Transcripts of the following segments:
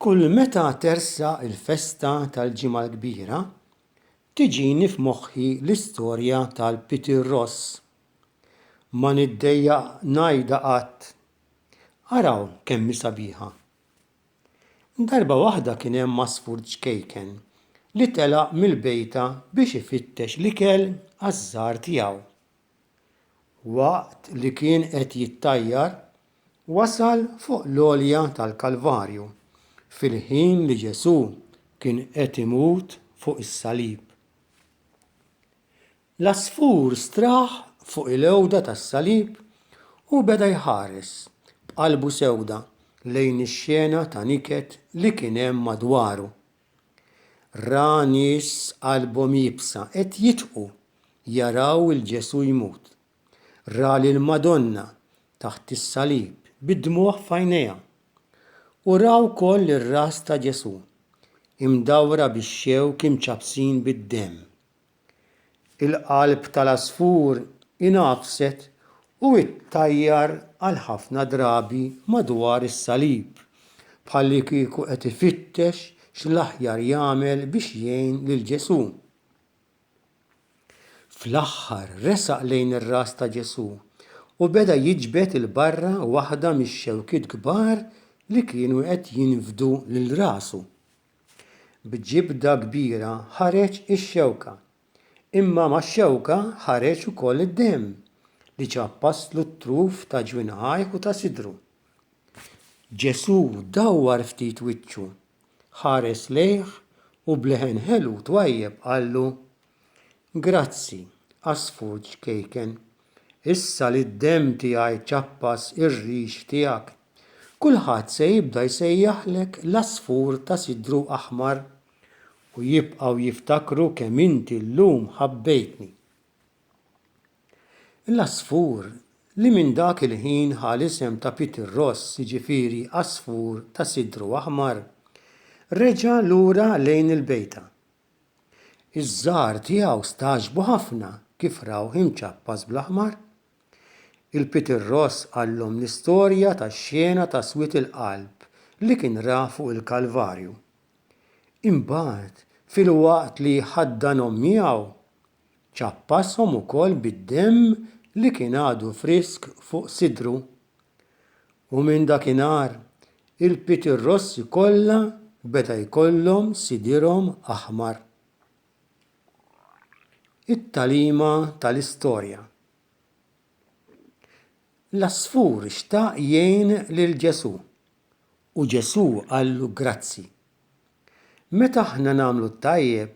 Kull meta tersaq il-festa tal-Ġimgħa l-Kbira, tiġini f'moħħi l-istorja tal-Peter Ross. Ma niddejjaq ngħidha qatt, araw kemm hi sabiħa! Darba waħda kien hemm għasfur ċkejken li telaq mill-bejta biex ifittex l-ikel għaż-żgħar tiegħu. Waqt li kien qed jittajjar, wasal fuq l-għolja tal-Kalvarju, fil-ħin li Ġesù kien qed imut fuq is-salib. L-għasfur straħ fuq il-għewda tas-salib u beda jħares b'qalbu sewda lejn ix-xena ta' niket li kien hemm madwaru. Ra nies qalbhom iebsa qed jitqu jaraw 'il Ġesù jmut. Ra lill-Madonna taħt is-salib bid-dmugħ f'għajnejha. U ra wkoll ir-ras ta' Ġesù, imdawra bix-xewk imċappsin bid-demm. Il-qalb tal-għasfur ingħafset u ttajjar għal ħafna drabi madwar is-salib, bħallikieku qed ifittex x'l-aħjar jagħmel biex jgħin lil Ġesù. Fl-aħħar resaq lejn ir-ras ta' Ġesù u beda jiġbed 'il barra waħda mix-xewkiet kbar li kienu qed jinfdu lil rasu. B'ġibda kbira ħareġ ix-xewka. Imma max-xewka ħareġ ukoll id-demm li ċappaslu t-truf ta' ġwinħajh u ta' sidru. Ġesù dawwar ftit wiċċu, ħares lejh u b'leħen ħelu twajjeb qallu, Grazzi, għasfur ċkejken. Issa li d-demm tiegħi ċappas ir-rix tiegħek, kulħadd se jibda jsejjaħlek l-għasfur ta' sidru aħmar, u jibqgħu jiftakru kemm inti llum ħabbejtni. L-għasfur li minn dak il-ħin ħa l-isem ta' Peter Ross, jiġifieri għasfur ta' sidru aħmar, reġa' lura lejn il-bejta, Iż-żgħar tiegħu stagħġbu ħafna kif rawh imċappas bl-aħmar. Il-Peter Ross qallhom l-istorja tax-xena ta' swied il-qalb li kien ra fuq il-Kalvarju. Imbagħad, filwaqt li ħaddanhom miegħu, Ċappashom ukoll bid-demm li kien għadu frisk fuq sidru. U minn dakinhar, il-pitirrossi kollha beda jkollhom sidirhom aħmar. It-tagħlima tal-istorja. L-għasfur xtaq jgħin lil Ġesù, u Ġesù qallu grazzi. Meta aħna nagħmlu t-tajjeb,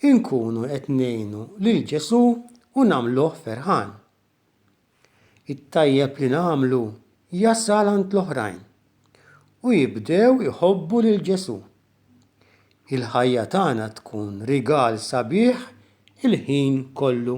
inkunu qed ngħinu lil Ġesù u nagħmluh ferħan. It-tajjeb li nagħmlu jasal għand l-oħrajn u jibdew iħobbu lil Ġesù. Il-ħajja tagħna tkun rigal sabiħ il-ħin kollu.